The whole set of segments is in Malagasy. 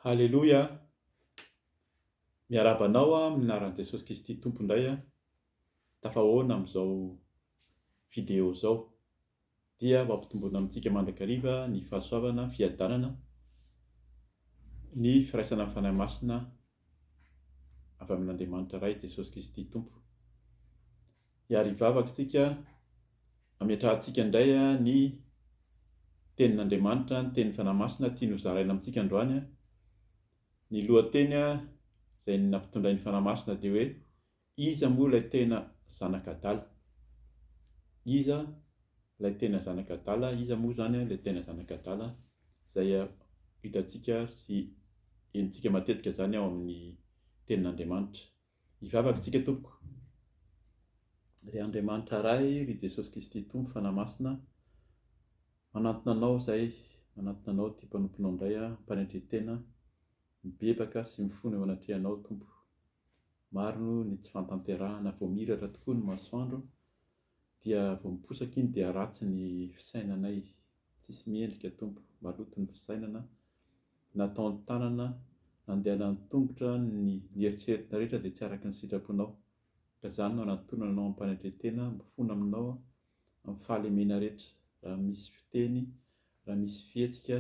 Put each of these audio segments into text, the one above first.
Haleloia, miarahaba anao amin'ny anaran'i Jesosy Kristy Tompo indray aho. Tafahoana amin'izao video izao dia ho ampitomboina amintsika mandrakariva ny fahasoavana, fiadanana, ny firaisana amin'ny Fanahy Masina avy amin'Andriamanitra Ray Jesosy Kristy Tompo. Hiary hivavaka isika, hametrahantsika indray ny Tenin'Andriamanitra, ny Tenin'ny Fanahy Masina tiany hozaraina amintsika androany. Ny lohateny izay nampitondrain'ny Fanahy Masina dia hoe, Iza moa ilay tena zanak'adala? Iza ilay tena zanak'adala? Iza moa izany ilay tena zanak'adala? Izay hitantsika sy henontsika matetika izany ao amin'ny Tenin'Andriamanitra. Hivavaka isika tompoko. Ry Andriamanitra Ray, ry Jesosy Kristy Tompo Fanahy Masina, manantona Anao izahay, manantona Anao ity mpanomponao indray am-panetren-tena, mibebaka sy mifona eo anatrehanao Tompo. Maro ny tsy fahatanterahana, voamiratra tokoa ny masoandro, Dia vao miposaka iny dia ratsy ny fisainanay, tsisy miendrika Tompo, maloto ny fisainana, nataony tanana, nandehanany tongotra, ny ny eritreritra rehetra dia tsy araka ny sitraponao, ka zany no anantonana anao ampanetretena, mifona aminao amin'ny fahalemena rehetra, raha misy fiteny, raha misy fihetsika,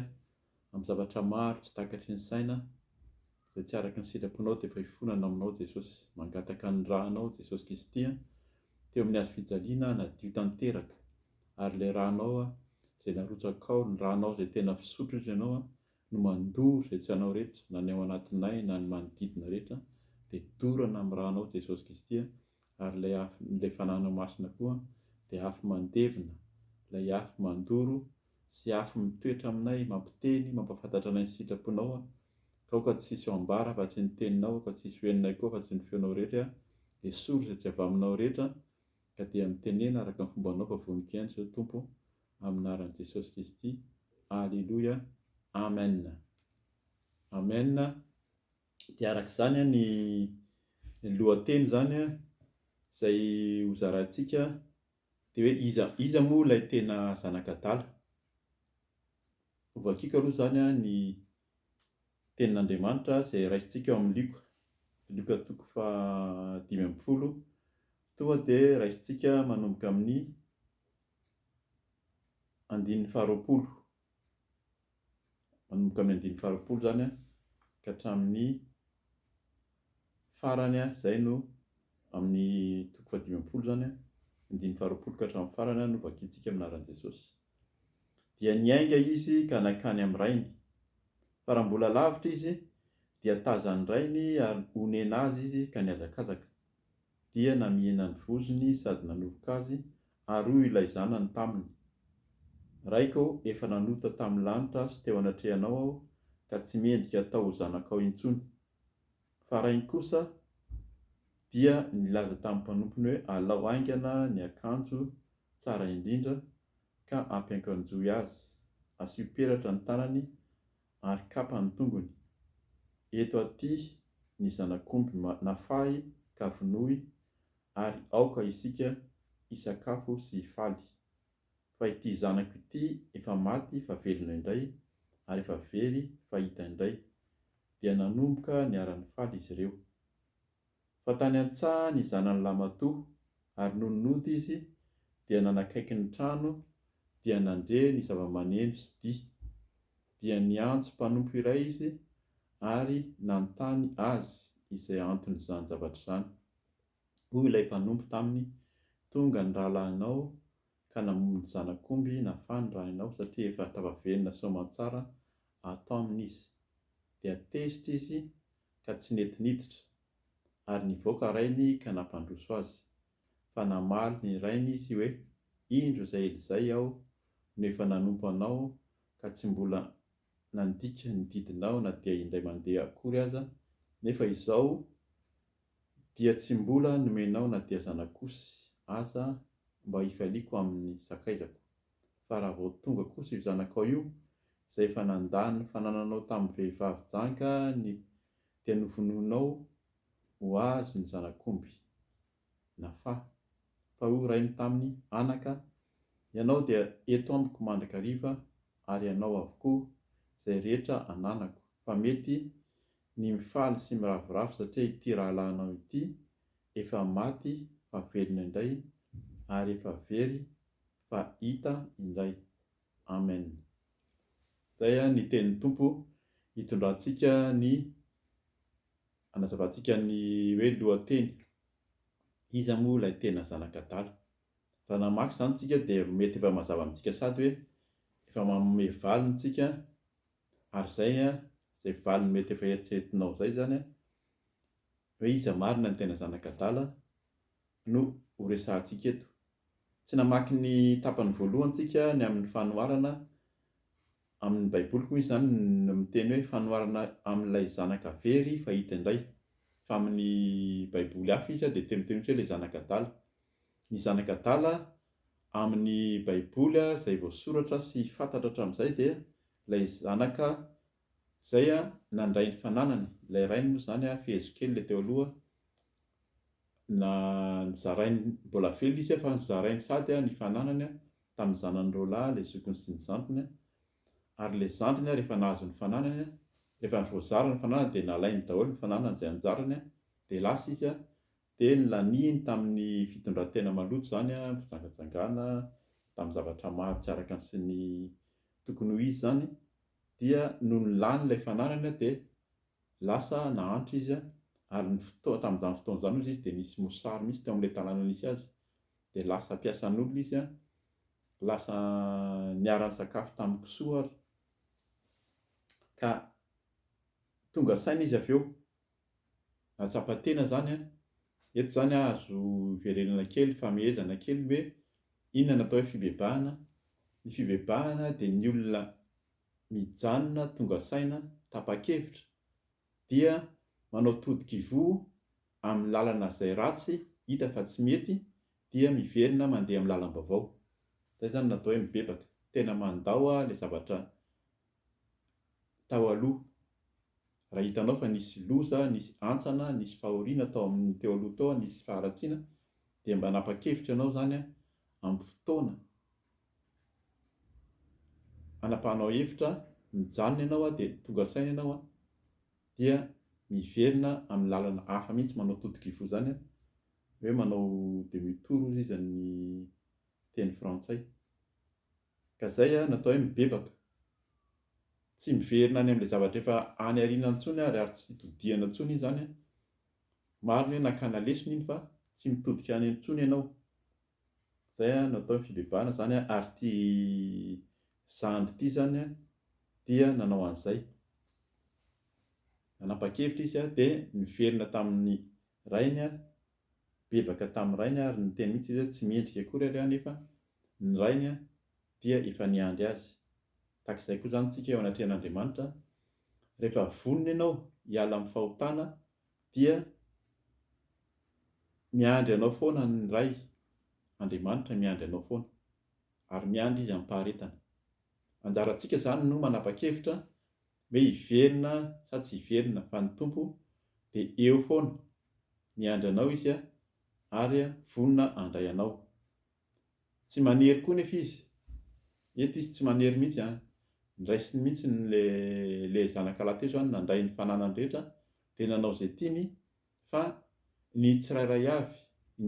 amin'ny zavatra maro tsy takatry ny saina izay tsy araka ny sitraponao dia efa hifonana aminao Jesosy mangataka ny ra anao Jesosy Kristy a teo amin'ny hazo fijaliana hanadio tanteraka ary ilay ra anao a izay narotsakao ny ra anao izay tena fisotro izy ianao a no mandoro izay tsy anao rehetra na ny ao anatinay na ny manodidina rehetra dia dorana amin'ny ra anao Jesosy Kristy a ary ilay afo ilay fananao masina koa dia afo mandevina ilay afo mandoro sy afo mitoetra aminay, mampiteny, mampahafantatra anay ny sitraponao aho, ka aoka tsy hisy ao ambara afa-tsy ny teninao, aoka tsy hisy ho henonay koa afa-tsy ny feonao rehetra aho, esory izay tsy avy aminao rehetra, ka dia mitenena araka ny fombanao fa vonon-kiaina izao Tompo, amin'ny anaran'i Jesosy Kristy, Aleloia, Amen. Amen, dia araka izany ny lohateny izany izay hozaraintsika. Dia hoe iza iza moa ilay tena zanak'adala? Hovakiako aloha izany ny Tenin'Andriamanitra izay raisintsika ao amin'ny Lioka. Lioka toko fahadimy ambin'ny folo, tonga dia raisintsika manomboka amin'ny andininy faharoapolo manomboka amin'ny andininy faharo-polo izany ka hatramin'ny farany, izay no amin'ny toko fahadimy am-polo izany, andininy faharo-polo ka hatramin'ny farany no vakintsika amin'ny anaran'i Jesosy. Dia niainga izy ka nankany amin'ny rainy. Fa raha mbola lavitra izy, dia tazan'ny rainy ary onena azy izy ka nihazakazaka. dia namihina ny vozony sady nanovoka azy, ary hoy ilay zanany taminy, Raiko ô, efa nanota tamin'ny lanitra sy teo anatrehanao aho, ka tsy mendrika hatao ho zanakao intsony. Fa rainy kosa dia nilaza tamin'ny mpanompony hoe, Alao haingana ny akanjo tsara indrindra, ka ampiankanjoy azy, asio peratra ny tanany, ary kapa ny tongony. Eto aty ny zanak'omby nafahy ka vonoy ary aoka isika hisakafo sy hifaly. Fa ity zanako ity efa maty fa velona indray ary efa very fa hita indray. Dia nanomboka niara-nifaly izy ireo. fa tany an-tsaha ny zanany lahimatoa, ary nony nody izy dia nanakaiky ny trano dia nandre ny zava-maneno sy dihy, dia niantso mpanompo iray izy ary nanontany azy izay anton'izany zavatra izany. Hoy ilay mpanompo taminy, Tonga ny rahalahinao ka namono ny zanak'omby nafan'ny rainao satria efa tafavenona soamantsara ato aminy izy. Dia tezitra izy ka tsy nety niditra, ary nivoaka rainy ka nampandroso azy. Fa namaly ny rainy izy hoe, Indro izay Elizay aho no efa nanompo anao ka tsy mbola nandika ny didinao na dia indray mandeha akory aza, nefa izao dia tsy mbola nomenao na dia zanak'osy aza mba hifaliako amin'ny sakaizako. fa raha vao tonga kosa io zanakao io, izay efa nandà ny fanananao tamin'ny vehivavy janga ny dia novonoinao ho azy ny zanak'omby. Nafa. Fa hoy rainy taminy, Anaka, ianao dia eto amiko mandrakariva, ary ianao avokoa, izay rehetra ananako, fa mety ny mifaly sy miravoravo satria ity rahalahinao ity efa maty fa velona indray, ary efa very fa hita indray. Amen. Zay an ny tenin'ny Tompo hitondrantsika ny hanazavantsika ny hoe lohateny. Iza moa ilay tena zanak'adala. Raha namaky izany tsika dia mety efa mazava amintsika sady hoe efa manome valiny tsika ary zay an zay valiny mety efa eritreretinao zay zany an, Hoe iza marina ny tena zanak'adala no ho resahantsika eto. Tsy namaky ny tapany voalohany tsika ny amin'ny fanoharana amin'ny baiboly koa misy izany ny miteny hoe fanoharana amin'ilay zanaka very fahita indray fa amin'ny baiboly hafa izy dia teny teny hoe ilay zanak'adala. Ny zanak'adala amin'ny baiboly izay voasoratra sy fantatra hatramin'izay dia ilay zanaka Izay a, nandray ny fananany, ilay rainy moa izany a, fehezo kely ilay teo aloha, na nizarainy, mbola velona izy a, fa nizarainy sady a, ny fananany a, tamin'ny zanany roa lahy, ilay zokiny sy ny zandriny a, ary ilay zandriny a, rehefa nahazo ny fananany a, rehefa voazara ny fananany dia nalainy daholo ny fananany izay anjarany a, dia lasa izy a, dia nilaniany tamin'ny fitondran-tena maloto izany a, fijangajangana, tamin'ny zavatra maro tsy araka ny sy ny tokony ho izy izany, Dia nony lany ilay fanarany dia lasa nahantra izy ary ny fotoana tamin'izany fotoana izany ozy izy dia nisy mosary mihitsy teo amin'ilay tanàna nisy azy dia lasa mpiasan'olona izy an, lasa niara nisakafo tamin'ny kisoa ary ka tonga saina izy avy eo. Nahatsapa tena zany an! Eto zany aho azo iverenana kely, famehezana kely hoe inona no atao hoe fibebahana? Ny fibebahana dia ny olona mijanona tonga saina, tapa-kevitra, dia manao todi-kivoho amin'ny lalana izay ratsy, hita fa tsy mety, dia miverina mandeha amin'ny lalam-baovao. Izay zany no atao hoe mibebaka. Tena mandao ilay zavatra tao aloha. Raha hitanao fa nisy loza, nisy hantsana, nisy fahoriana tao amin'ny teo aloha tao, nisy faharatsiana, dia mba hanapa-kevitra ianao izany ampy fotoana. Anapahanao hevitra, mijanona ianao dia tonga saina ianao dia miverina amin'ny lalana hafa mihitsy manao totok'ivoho izany hoe manao demi tour hozy izy amin'ny teny frantsay. Ka zay an, natao hoe mibebaka. Tsy miverina any amin'ilay zavatra efa any aoriana intsony ary ary tsy todihana intsony iny zany an. Marina hoe nakana lesona iny fa tsy mitodika any intsony ianao. Zay an, natao ny fibebahana zany an, ary ity zandry ity zany an dia nanao an'izay. Nanapa-kevitra izy an dia niverina tamin'ny rainy an Nibebaka tamin'ny rainy ary niteny mihitsy izy hoe tsy mendrika akory ary aho nefa ny rainy dia efa niandry azy. Tahaka izay koa izany isika eo anatrehan'Andriamanitra, rehefa vonona ianao hiala amin'ny fahotana dia miandry anao foana ny Ray, Andriamanitra miandry anao foana ary miandry Izy amim-paharetana. Anjarantsika izany no manapa-kevitra Hoe hiverina sa tsy hiverina fa ny Tompo dia eo foana miandry anao izy ary vonona handray anao. Tsy manery koa nefa izy. Eto izy tsy manery mihitsy an! Ndraisiny mihitsy ny le zanakalahy teo izany nandray ny fananany rehetra dia nanao izay tiany fa ny tsirairay avy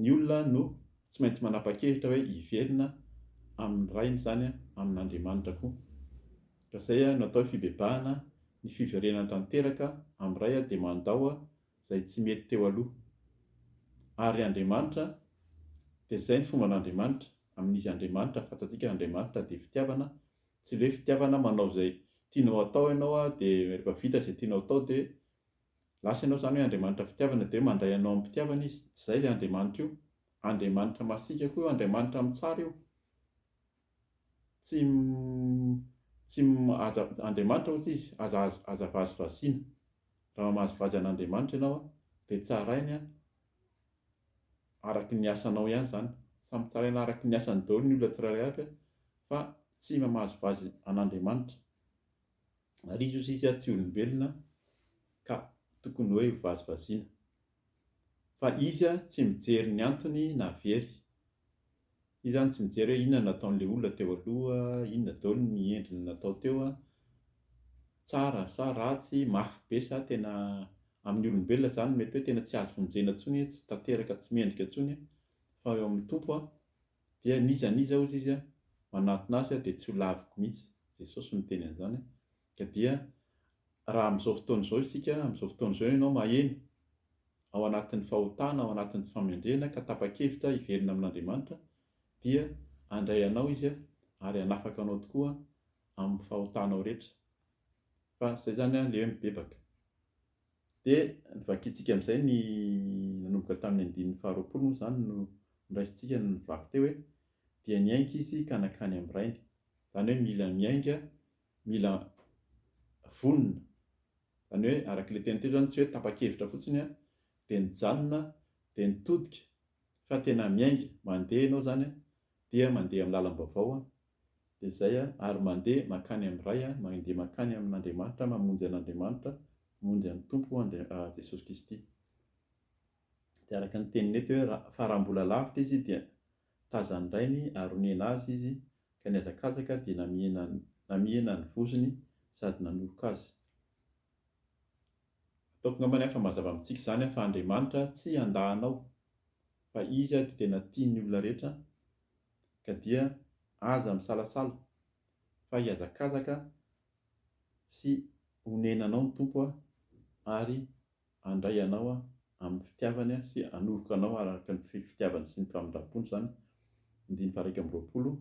ny olona no tsy maintsy manapa-kevitra hoe hiverina amin'ny rainy izany amin'Andriamanitra koa ka izay no atao hoe fibebahana ny fiverenana tanteraka amin'ny ray dia mandao izay tsy mety teo aloha ary Andriamanitra dia izay ny fomban'Andriamanitra amin'izy Andriamanitra fantatsika Andriamanitra dia fitiavana tsy ilay hoe fitiavana manao izay tianao atao ianao dia rehefa vita izay tianao atao dia Lasa ianao izany hoe Andriamanitra fitiavana dia hoe mandray anao amim-pitiavana Izy. Tsy izay ilay Andriamanitra io. Andriamanitra masiaka koa io, Andriamanitra mitsara io. Tsy, tsy, aza, Andriamanitra hozy Izy, aza, aza vazivaziana. Raha mamazivazy an'Andriamanitra ianao dia tsarainy araka ny asanao ihany izany. Samy tsaraina araka ny asany daholo ny olona tsirairay avy fa tsy mamazivazy an'Andriamanitra. Ary izy hozy izy tsy olombelona ka tokony hoe ho vazivaziana. Fa izy tsy mijery ny antony na very. Izy zany tsy mijery hoe inona no nataon'ilay olona teo aloha, inona daolo ny endriny natao teo, tsara sa ratsy, mafy be sa tena, amin'ny olombelona zany mety hoe tena tsy azo vonjena intsony, tsy tanteraka, tsy mendrika intsony, fa eo amin'ny Tompo Dia n'iza n'iza ozy izy manantona azy dia tsy ho laviko mihitsy, Jesosy no niteny an'izany, ka dia raha amin'izao fotoana izao isika, amin'izao fotoana izao ianao maheno, ao anatin'ny fahotana, ao anatin'ny tsy fahamendrehana ka tapa-kevitra hiverina amin'Andriamanitra, dia handray anao Izy ary hanafaka anao tokoa amin'ny fahotanao rehetra, fa izay izany an, leo mibebaka. Dia ny vakintsika amin'izay ny nanomboka tamin'ny andininy faharoapolo moa izany no noraisintsika no nivaky teo hoe, dia niainga izy ka nankany amin'ny rainy. Izany hoe mila miainga, mila vonona. Izany hoe araka ilay teny teo izany tsy hoe tapa-kevitra fotsiny an, dia nijanona, dia nitodika, fa tena miainga. Mandeha ianao izany dia mandeha amin'ny lalam-baovao, dia izay a, ary mandeha mankany amin'ny Ray a, mandeha mankany amin'Andriamanitra, mamonjy an'Andriamanitra, mamonjy an'ny Tompo Andria-, Jesosy Kristy. Dia araka ny teniny eto hoe, fa raha mbola lavitra izy dia tazan'ny Rainy ary onena azy izy, ka nihazakazaka dia namihena, namihena ny vozony sady nanoroka azy. Ataoko angambany a fa mazava amintsika izany a, fa Andriamanitra tsy andahanao, fa Izy a dia tena tia ny olona rehetra, ka dia aza misalasala fa hihazakazaka sy honena anao ny Tompo ary handray anao amin'ny fitiavany sy hanoriko anao araka ny fitiavany sy ny famindrampony izany, andininy faha-iraika amby roapolo,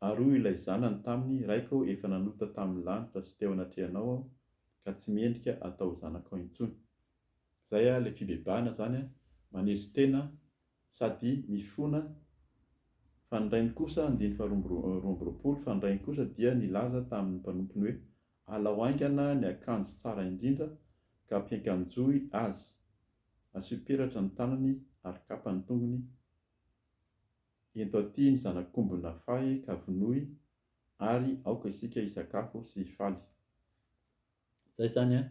Ary hoy ilay zanany taminy, Raiko ô, efa nanota tamin'ny lanitra sy teo anatrehanao aho, ka tsy mendrika hatao zanakao intsony. Izay ilay fibebahana izany, manezo tena sady mifona Fa ny Rainy kosa, andininy faharoa amby roapolo, Fa ny Rainy kosa dia nilaza tamin'ny mpanompony hoe, Alao haingana ny akanjo tsara indrindra, ka ampiankanjoy Azy, asio peratra ny tanany, ary kapa ny tongony, Ento aty ny zanak'omby nafahy, ka vonoy, ary aoka isika hisakafo sy hifaly. Zay zany an!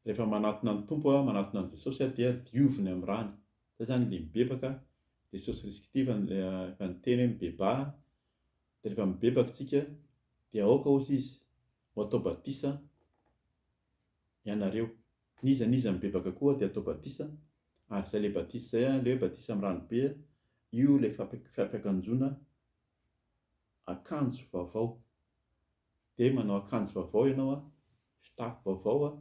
Rehefa manatona ny Tompo aho, manatona an'i Jesosy aho dia dioviny amin'ny rany. Zay zany ilay mibebaka, Jesosy Riskity efa efa niteny hoe mibebaha, dia rehefa mibebaka tsika dia aoka ozy izy ho atao batisa ianareo. N'iza n'iza mibebaka koa dia atao batisa, ary zay ilay batisa zay an, ilay hoe batisa amin'ny rano be an, io ilay fampiakanjoana akanjo vaovao. dia manao akanjo vaovao ianao an, fitafy vaovao an,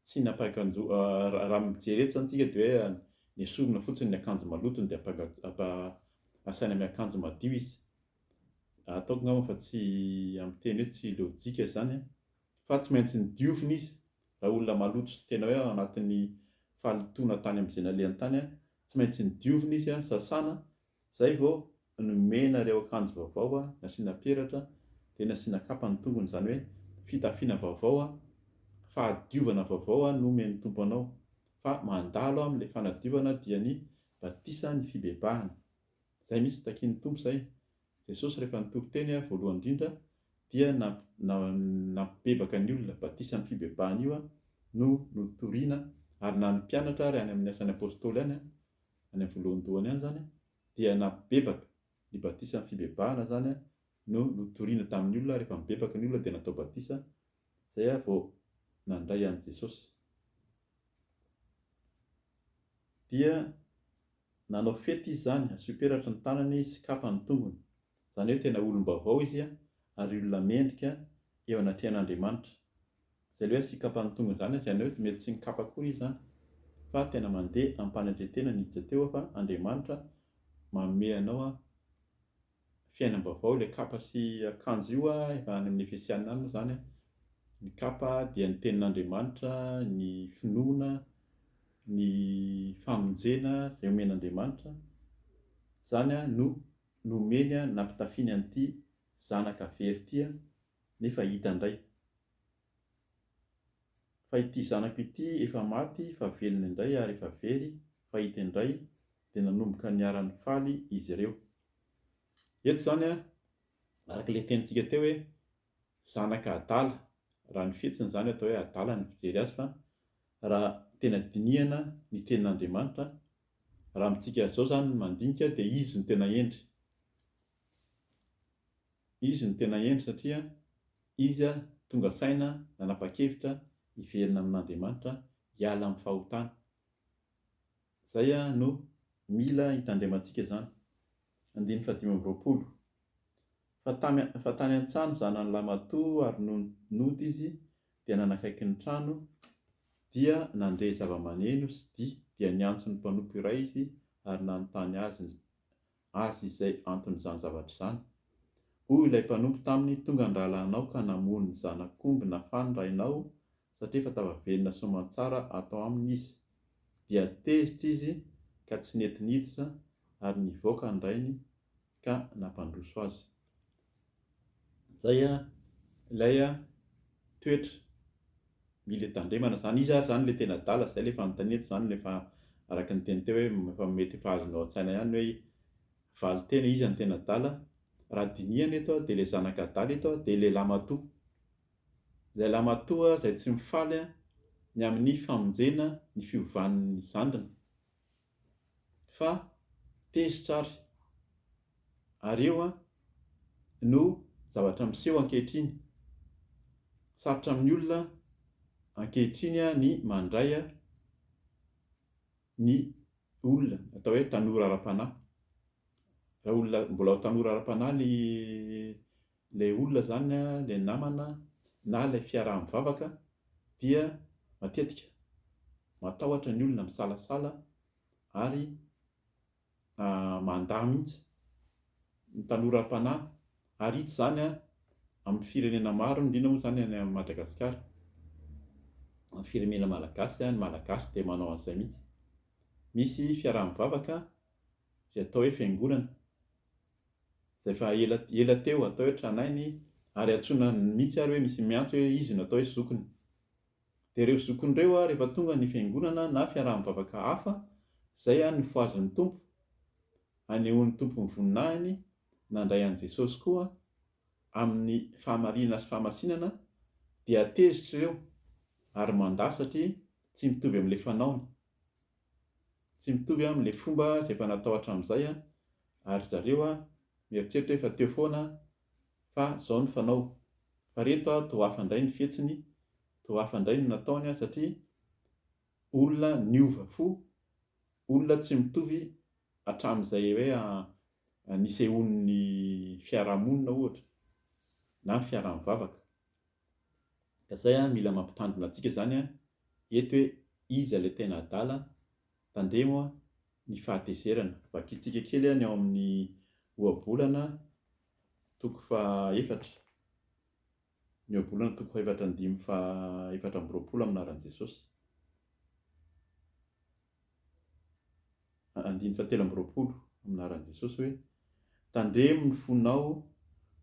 tsy ny ampahakanjo raha mijery eto izany isika dia hoe nesorina fotsiny ny akanjo maloto dia ampa asaina miakanjo madio izy, ataoko angamba fa tsy amin'ny teny hoe tsy lojika izany an, fa tsy maintsy ny diovina izy, raha olona maloto sy tena hoe anatin'ny fahalotoana tany amin'izay nalehany tany an, tsy maintsy ny diovina izy an, sasana Zay vao nomena ireo akanjo vaovao a, nasiana peratra, dia nasiana kapa ny tongony, izany hoe fitafiana vaovao a, fahadiovana vaovao a nomen'ny Tompo anao, fa mandalo amin'ilay fanadiovana dia ny batisa ny fibebahana. Zay mihitsy takian'ny Tompo zay. Jesosy rehefa nitory teny a, voalohany indrindra dia nampibebaka ny olona, batisa ny fibebahana io a no notoriana ary na ny mpianatra ary any amin'ny asan'ny apostoly any a, any amin'ny voalohandohany any izany dia nabebaka, ny batisa fibebahana izany no notorina tamin'ny olona rehefa nibebaka ny olona dia natao batisa izay vao nandray an'i Jesosy dia nanao fety izy izany, asio peratra ny tanany sy kapa ny tongony, izany hoe tena olom-baovao izy ary olona mendrika eo anatrehan'Andriamanitra. Izay ilay hoe sikapa ny tonga izany aza ny hoe mety tsy nikapa akory izy izany fa tena mandeha ampanetretena ny hija teo fa Andriamanitra manome anao fiainam-baovao ilay kapa sy akanjo io efa any amin'ny efesianina any moa izany ny kapa dia ny tenin'Andriamanitra ny finoana ny famonjena izay omen'Andriamanitra izany no nomeny nampitafiany an'ity zanaka very ity nefa hita indray Fa ity zanako ity efa maty fa velona indray ary efa very fahita indray dia nanomboka niara-nifaly izy ireo. Eto izany an, araka ilay tenintsika teo hoe zanaka adala, raha ny fihetsiny izany atao hoe adala ny fijery azy fa raha tena dinihana ny tenin'Andriamanitra, raha amintsika izao izany ny mandinika dia izy no tena hendry. Izy no tena hendry satria izy tonga saina nanapa-kevitra hiverina amin'Andriamanitra hiala amin'ny fahotana. Izay no mila hitandremantsika izany. Andininy fahadimy amby roapolo. Fa tamy, fa tany an-tsany zanany lahy matoa ary no nody izy dia nanakaiky ny trano dia nandre zava-maneno sy dihy dia niantso ny mpanompo iray izy ary nanontany azy ny azy izay anton'izany zavatra izany. Hoy ilay mpanompo taminy, Tonga an-drahalahy anao ka namono ny zanak'omby nafan'ny rainao, satria efa tafaverina soamantsara ato aminy izy. Dia tezitra izy ka tsy nety niditra, ary nivoaka ny rainy ka nampandroso azy. Zay an, ilay an, toetra, mile tandremana zany, iza ary zany le tena adala, zay le fanontaniana eto zany, efa araka ny teny teo hoe, efa mety efa azonao an-tsaina ihany hoe, valin-tena iza no tena adala, raha dinihana eto an, dia le zanaka adala eto an, dia le lamatoa, zay lamatoa zay tsy mifaly an, ny amin'ny famonjena ny fiovan'ny zandriny, fa tezitra ary, ary io no zavatra miseho ankehitriny. Sarotra amin'ny olona ankehitriny ny mandray ny olona atao hoe tanora ara-panahy. Raha olona mbola tanora ara-panahy ny Ilay olona izany, ilay namana na ilay fiaraha-mivavaka dia matetika matahotra ny olona misalasala ary mandà mihitsy ny tanora am-panahy ary hita izany amin'ny firenena maro indrindra moa izany any Madagasikara. Ny firenena malagasy, ny Malagasy dia manao an'izay mihitsy. Misy fiaraha-mivavaka izay atao hoe fiangonana. izay efa ela ela teo atao hoe tranainy ary antsoina mihitsy ary hoe misy miantso hoe izy no atao hoe zokiny. Dia ireo zokiny ireo rehefa tonga ny fiangonana na fiaraha-mivavaka hafa, izay no fohazin'ny Tompo, anehoan'ny Tompo ny voninahiny, nandray an'i Jesosy koa amin'ny fahamarinana sy fahamasinana, dia tezitra ireo ary mandà satria tsy mitovy amin'ilay fanaony, tsy mitovy amin'ilay fomba izay efa natao hatramin'izay ary ry zareo a mieritreritra hoe efa teo foana fa zao ny fanao fa ry eto a toa hafa indray ny fihetsiny toa hafa indray ny nataony a satria olona niova fo olona tsy mitovy hatramin'izay hoe nisehoan'ny fiarahamonina ohatra na ny fiaraha-mivavaka ka zay a mila mampitandrina antsika izany a eto hoe iza ilay tena adala Tandremo ny fahatezerana. Vakintsika kely ny ao amin'ny Ohabolana toko fahaefatra, ny Ohabolana toko fahefatra andimy fahaefatra amby roapolo amin'ny anaran'i Jesosy. Andiny fahatelo amby roapolo amin'ny anaran'i Jesosy hoe. Tandremo ny fonao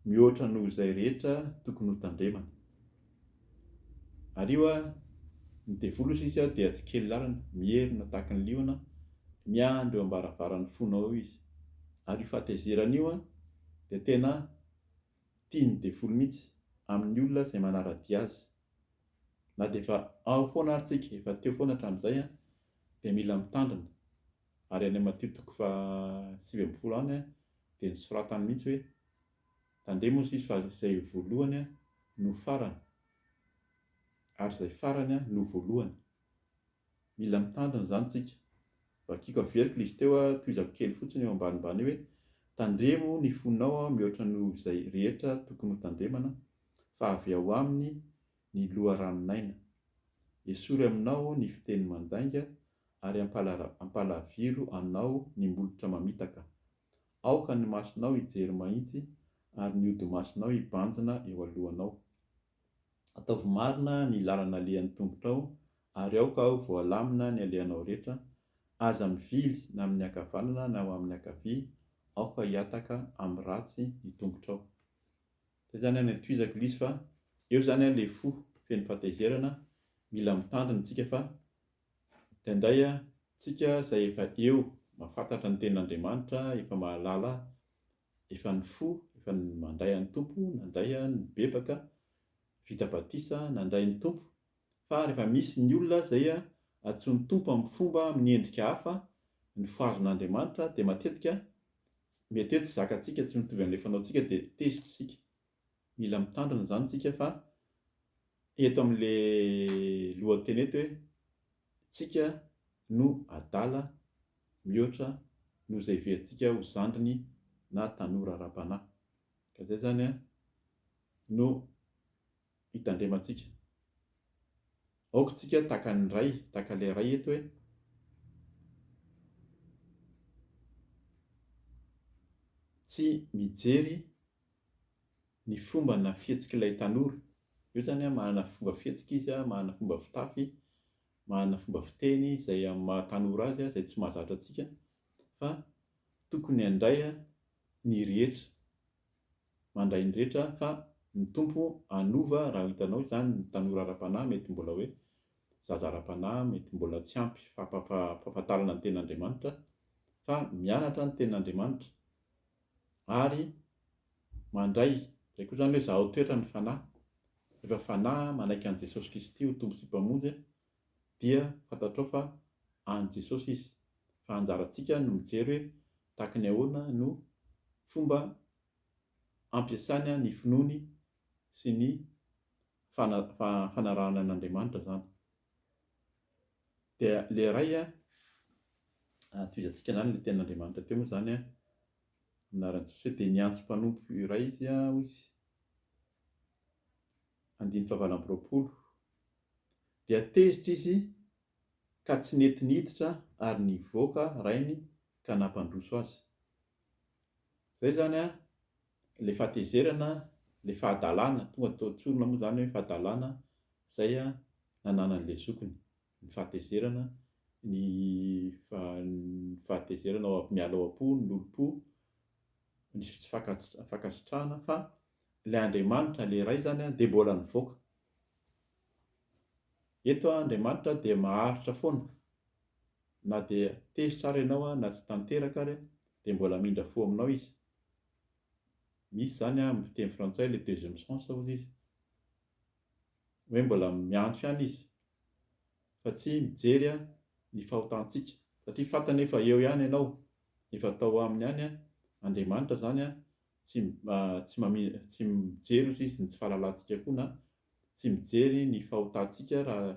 mihoatra noho izay rehetra tokony ho tandremana. Ary io an, ny devoly hozy izy an dia tsy kely lalana, mierona tahaka ny liona, miandry eo ambaravaran'ny fonao eo izy. Ary io fahatezerana io an dia tena tian'ny devoly mihitsy amin'ny olona izay manara-dia azy. Na dia efa ao foana ary tsika, efa teo foana hatramin'izay an, dia mila mitandrina. Ary any Matio toko fahasivy ambin'ny folo any dia nosoratany mihitsy hoe, Tandremo hoy Izy fa izay voalohany no farany, ary izay farany no voalohany. Mila mitandrina izany isika. Vakiko averiko ilay izy teo, tohizako kely fotsiny eo ambanimbany eo hoe, Tandremo ny fonao mihoatra noho izay rehetra tokony hotandremana, fa avy ao aminy ny loharanon'aina. Esory aminao ny fiteny mandainga, ary hampalaviro anao ny molotra mamitaka. Aoka ny masonao hijery mahitsy ary ny hodi-masonao hibanjina eo alohanao. Ataovy marina ny lalana alehan'ny tongotrao ary aoka ho voalamina ny alehanao rehetra, aza mivily na amin'ny ankavanana na ho amin'ny ankavia, aoka hihataka amin'ny ratsy ny tongotrao. Izay izany any antohizako Lisy fa eo izany ilay fo feno fahatezerana, mila mitandrina isika fa Dia ndray a, tsika zay efa eo mafantatra ny tenin'Andriamanitra efa mahalala efa ny fo efa ny mandray an'i Tompo nandray a ny bebaka vita batisa nandray ny Tompo fa refa misy ny olona zay a antsoin'i Tompo amin'ny fomba amin'ny endrika hafa ny fahazon'Andriamanitra dia matetika mety hoe tsy zakatsika tsy mitovy an'le fanaontsika dia tezitra isika Mila mitandrina izany tsika fa eto amin'le lohateny eto hoe tsika no adala mihoatra noho izay heverintsika ho zandriny na tanora ara-panahy. Ka izay izany no hitandremantsika. Aoka isika tahaka ny ray, tahaka ilay ray eto hoe, tsy mijery ny fomba na fihetsik'ilay tanora. Eo zany an, manana fomba fihetsika izy an, manana fomba fitafy, manana fomba fiteny izay amin'ny maha tanora azy an, izay tsy mahazatra antsika fa tokony handray an ny rehetra, mandray ny rehetra fa ny Tompo hanova raha hitanao izany ny tanora ara-panahy mety mbola hoe zaza ara-panahy mety mbola tsy ampy fampahafantarana ny tenin'Andriamanitra fa mianatra ny tenin'Andriamanitra ary mandray, izay koa izany hoe zahao toetra ny Fanahy, rehefa Fanahy manaiky an'i Jesosy Kristy ho Tompo sy Mpamonjy dia fantatrao fa an'i Jesosy Izy, fa anjarantsika no mijery hoe tahaka ny ahoana no fomba ampiasany ny finoany sy ny fanarahany an'Andriamanitra izany. Dia ilay iray an, atomizantsika anarana ilay tenin'Andriamanitra teo moa izany an, amin'ny anaran'i Jesosy hoe dia niantso mpanompo iray izy an, hoy izy, andininy fahavalo amby roapolo, dia tezitra izy ka tsy nety niditra ary nivoaka rainy ka nampandroso azy. Izay izany an, le fahatezerana le fahadalana tonga tao tsorina moa zany hoe fahadalana zay a nananany le zokiny ny fahatezerana ny fahatezerana ao miala ao am-po ny lolom-po ny tsy fankasitrahana fa le andriamanitra le ray zany a de mbola mivoaka eto a andriamanitra dia maharitra foana Na dia tezitra ary ianao na tsy tanteraka ary dia mbola hamindra fo aminao izy. Misy izany amin'ny teny frantsay ilay deuxième sens hozy izy. Hoe mbola miantso ihany izy fa tsy mijery ny fahotantsika. Satria fantany hoe fa eo ihany ianao, efa tao aminy ihany Andriamanitra izany, tsy mijery hozy izy ny tsy fahalalantsika koa na tsy mijery ny fahotantsika raha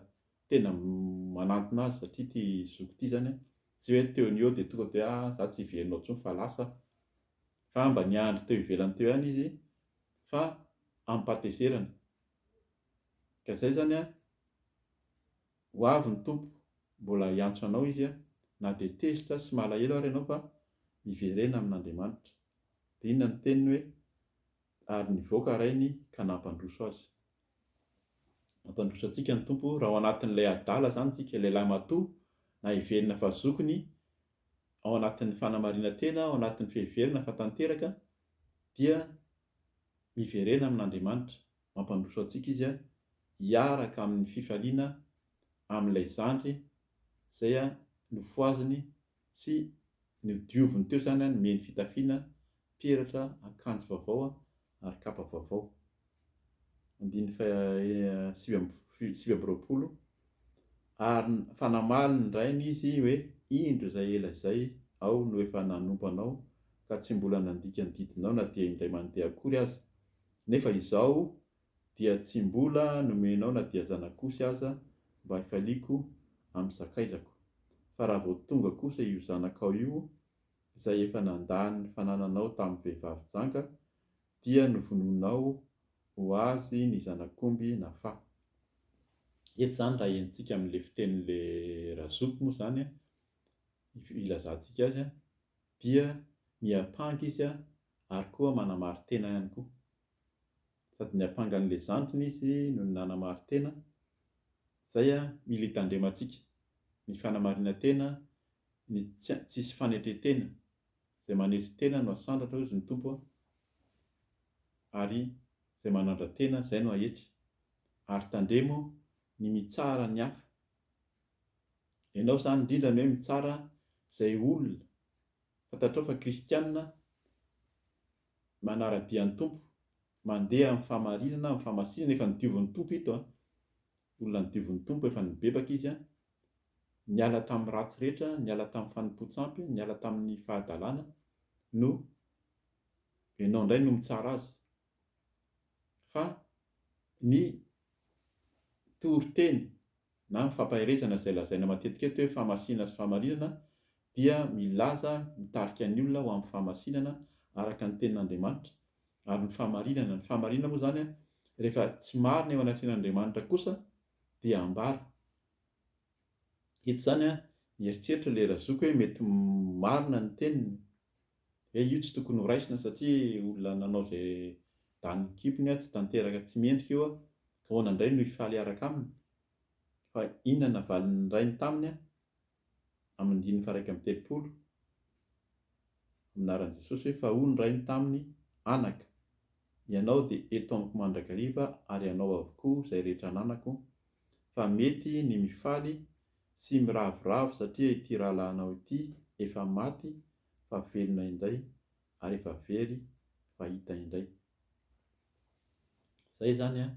tena manantona azy satria ity zoky ity izany an, tsy hoe teo ny eo dia tonga dia ah za tsy hiverinao intsony fa lasa aho, fa mba niandry teo ivelany teo ihany izy fa amim-pahatezerana, ka izay izany an, ho avy ny Tompo mbola hiantso anao Izy an, na dia tezitra sy malahelo ary ianao fa miverena amin'Andriamanitra, dia inona ny teniny hoe, ary nivoaka rainy ka nampandroso azy. Mampandroso antsika ny Tompo raha ao anatin'ilay adala izany isika, lehilahy matoa na heverina fa zokiny, ao anatin'ny fanamarinan-tena, ao anatin'ny fiheverana fa tanteraka dia miverena amin'Andriamanitra, mampandroso antsika Izy hiaraka amin'ny fifaliana amin'ilay zandry izay nofohaziny Tsy nodioviny teo izany an, mihaino fitafiana, peratra, akanjo vaovao an, ary kapa vaovao. Andininy faha sivy amby roapolo, Ary fa namaly ny rainy izy hoe, Indro izay ela izay aho no efa nanompo anao ka tsy mbola nandika ny didinao na dia indray mandeha akory aza, nefa izao dia tsy mbola nomenao na dia zanak'osy aza mba hifaliako amin'ny sakaizako, fa raha vao tonga kosa io zanakao io izay efa nandà ny fanananao tamin'ny vehivavy janga, dia novonoinao ho azy ny zanak'omby na fa. Eto izany raha henontsika amin'ilay fitenin'ilay razoky moa izany an, ilazantsika azy an, dia miampanga izy ary koa manamarin-tena ihany koa. sady niampanga an'ilay zandriny izy nony nanamari-tena, izay mila hitandremantsika, ny fanamarinan-tena, ny tsy tsisy fanetren-tena, izay manetry tena no asandratra hozy ny Tompo a, ary izay manandra-tena izay no ahetry, ary tandremo ny mitsara ny hafa, ianao izany indrindra ny hoe mitsara izay olona fantatrao fa kristianina manara-dia ny Tompo, mandeha amin'ny fahamarinana, amin'ny fahamasinana, efa nodiovin'ny Tompo ito an, olona nodiovin'ny Tompo, efa nibebaka izy an, niala tamin'ny ratsy rehetra, niala tamin'ny fanompoan-tsampy, niala tamin'ny fahadalana, no ianao indray no mitsara azy. Fa ny toriteny na ny fampaherezana izay lazaina matetika eto hoe fahamasinana sy fahamarinana dia milaza mitarika ny olona ho amin'ny fahamasinana araka ny tenin'Andriamanitra ary ny fahamarinana, ny fahamarinana moa izany rehefa tsy marina eo anatrehan'Andriamanitra kosa dia ambara eto izany, nieritreritra ilay razoko hoe mety marina ny teniny. He io tsy tokony ho raisina satria olona nanao izay danin'ny kibony tsy tanteraka tsy mendrika io an! Ahoana indray no hifaly hiaraka aminy? Fa inona navalin'ny rainy taminy an! Amin'ny andininy faharaika amby telopolo Amin'ny anaran'i Jesosy hoe fa hoy ny rainy taminy, Anaka, ianao dia eto amiko mandrakariva ary hanao avokoa izay rehetra ananako, fa mety ny mifaly sy miravoravo satria ity rahalahinao ity efa maty fa velona indray ary efa very fa hita indray. Zay izany an!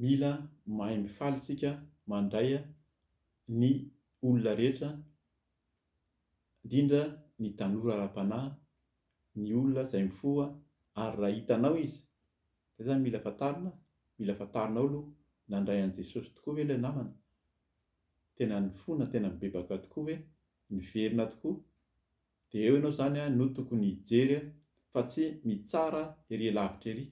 Mila mahay mifaly tsika mandray ny olona rehetra indrindra ny tanora ara-panahy, ny olona izay mifoha ary raha hitanao izy, zay zany mila fantarina, mila fantarinao aloha, nandray an'i Jesosy tokoa ve ilay namana? Tena nifona, tena nibebaka tokoa ve? Miverina tokoa. Dia eo ianao izany no tokony hijery fa tsy mitsara ery lavitra ery.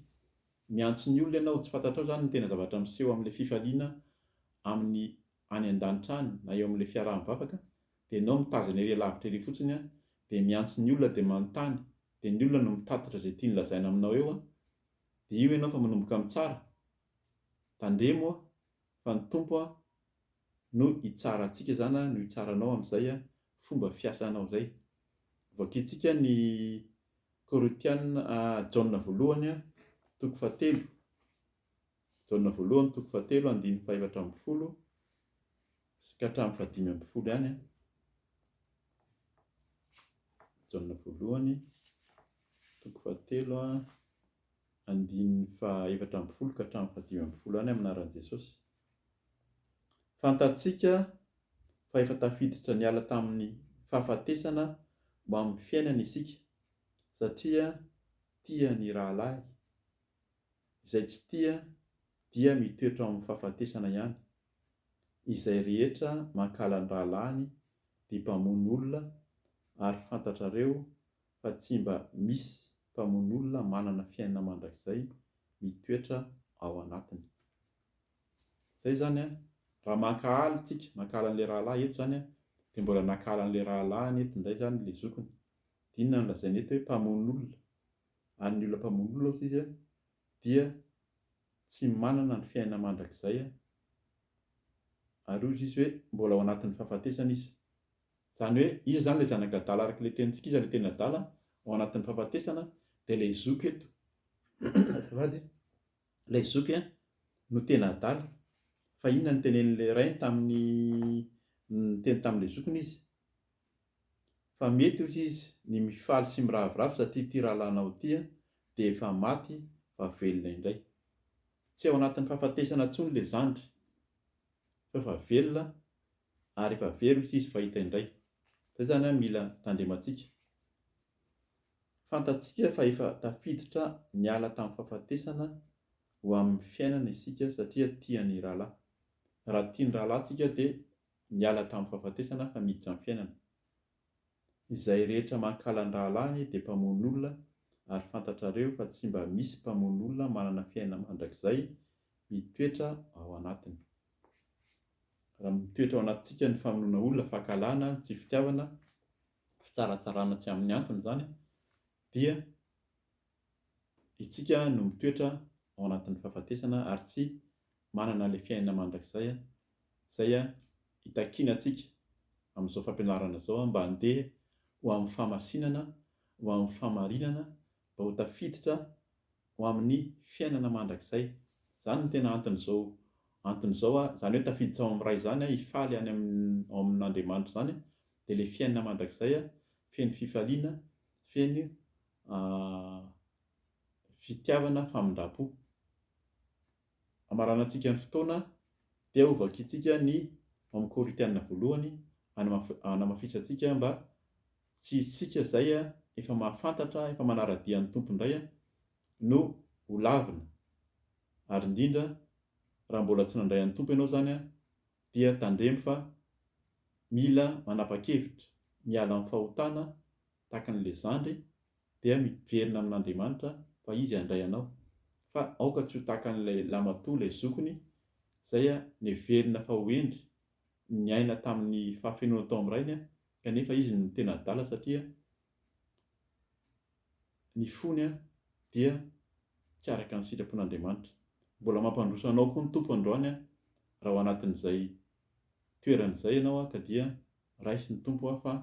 Miantso ny olona ianao, tsy fantatrao izany ny tena zavatra miseho amin'ilay fifaliana amin'ny any an-danitra any na eo amin'ilay fiaraha-mivavaka, dia ianao mitazana ery lavitra ery fotsiny, dia miantso ny olona dia manontany, dia ny olona no mitatitra izay tiany lazaina aminao eo, dia io ianao efa manomboka mitsara. Tandremo a! fa ny Tompo an no hitsara antsika izany an no hitsara anao amin'izay an fomba fiasanao izay. Vakintsika ny Korintiana a Jaona voalohany a toko fahatelo Jaona voalohany toko fahatelo andininy fahefatra ambin'ny folo sy ka hatramin'ny fahadimy ambin'ny folo ihany an. Jaona voalohany toko fahatelo a. andininy faha efatra ambin'ny folo ka hatramin'ny faha dimy ambin'ny folo any amin'ny anaran'i Jesosy. Fantatsika fa efa tafiditra niala tamin'ny fahafatesana ho amin'ny fiainana isika satria tia ny rahalahy, izay tsy tia dia mitoetra ao amin'ny fahafatesana ihany. Izay rehetra mankahala ny rahalahiny dia mpamono olona ary fantatrareo fa tsy mba misy mpamonolona manana fiainana mandrakizay mitoetra ao anatiny. Zay zany an, raha mankahala tsika, mankahala an'le rahalahy eto zany an, de mbola nankahala an'le rahalahiny eto ndray zany le zokiny, dinona ny lazainy eto hoe mpamonolona, ary ny olona mpamonolona ozy izy an, dia tsy manana ny fiainana mandrakizay an, ary ozy izy hoe mbola ao anatin'ny fahafatesana izy. Izany hoe iza izany ilay zanaka adala araka ilay tenintsika, iza ilay tena adala ao anatin'ny fahafatesana, dia ilay zoky eto azafady a, ilay zoky a no tena adala, fa inona no nitenenin'ilay rainy tamin'ny niteny tamin'ilay zokiny izy? fa mety hoy izy ny mifaly sy miraviravy satria ity rahalanao ity a dia efa maty fa velona indray, tsy ao anatin'ny fahafatesana intsony ilay zandry fa efa velona ary efa very io sisy fahita indray. Izay izany an mila tandremantsika. Fantatsika fa efa tafiditra niala tamin'ny fahafatesana ho amin'ny fiainana isika satria tia ny rahalahy. Raha tia ny rahalahy tsika dia miala tamin'ny fahafatesana fa miditra amin'ny fiainana. Izay rehetra mankala ny rahalahiny dia mpamono olona ary fantatrareo fa tsy mba misy mpamono olona manana fiainana mandrakizay mitoetra ao anatiny. Raha mitoetra ao anatintsika ny famonoana olona, fankahalana, ny tsy fitiavana, fitsaratsarana tsy amin'ny antony izany dia Isika no mitoetra ao anatin'ny fahafatesana ary tsy manana ilay fiainana mandrakizay izay itakiana antsika amin'izao fampianarana izao mba handeha ho amin'ny fahamasinana, ho amin'ny fahamarinana, mba ho tafiditra ho amin'ny fiainana mandrakizay. Izany no tena anton'izao antony izao, izany hoe tafiditra ao amin'ny Ray izany, hifaly any amin'ny ao amin'Andriamanitra izany dia ilay fiainana mandrakizay feno fifaliana, feno. fitiavana famindram-po. Hamaranantsika ny fotoana dia ho vakintsika ny ao Korintiana voalohany hanamafisantsika mba tsy isika izay efa mahafantatra, efa manara-dia ny Tompo indray no ho lavina. Ary indrindra raha mbola tsy nandray an'ny Tompo ianao izany dia tandremo fa mila manapa-kevitra, miala amin'ny fahotana tahaka an'ilay zandry, dia miverina amin'Andriamanitra fa Izy handray anao. Fa aoka tsy ho tahaka an'ilay lahimatoa ilay zokiny, izay neverina fa ho hendry, niaina tamin'ny fahafenoana tao amin'ny rainy, kanefa izy no tena adala satria ny fony dia tsy araka ny sitrapon'Andriamanitra. Mbola mampandroso anao koa ny Tompo androany raha ao anatin'izay toerana izay ianao ka dia raisin'ny Tompo fa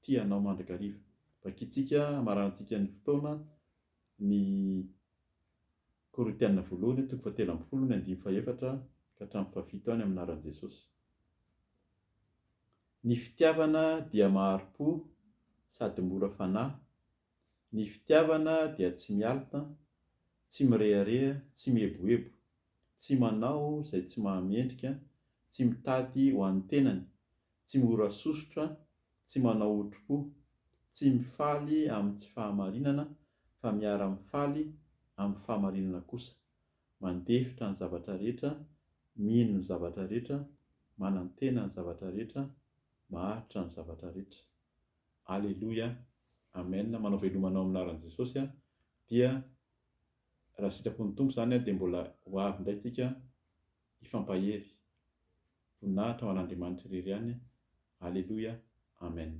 tia anao mandrakariva. Vakintsika hamaranantsika ny fotoana ny Korintiana voalohany toko fahatelo ambin'ny folo ny andininy fahefatra ka hatramin'ny fahafito any amin'ny anaran'i Jesosy. Ny fitiavana dia mahari-po sady mora fanahy, ny fitiavana dia tsy mialona, tsy mirehareha, tsy mieboebo, tsy manao izay tsy mahamendrika, tsy mitady ho an'ny tenany, tsy mora sosotra, tsy manao otri-po, tsy mifaly amin'ny tsy fahamarinana fa miara-mifaly amin'ny fahamarinana kosa, mandefitra ny zavatra rehetra, mino ny zavatra rehetra, manantena ny zavatra rehetra, maharitra amin'ny zavatra rehetra. Aleloia, Amen, manao velomana ao amin'ny anaran'i Jesosy aho, dia raha sitrapon'ny Tompo izany dia mbola ho avy indray tsika Hifampahery. Voninahitra ho an'Andriamanitra irery ihany Aleloia Amen.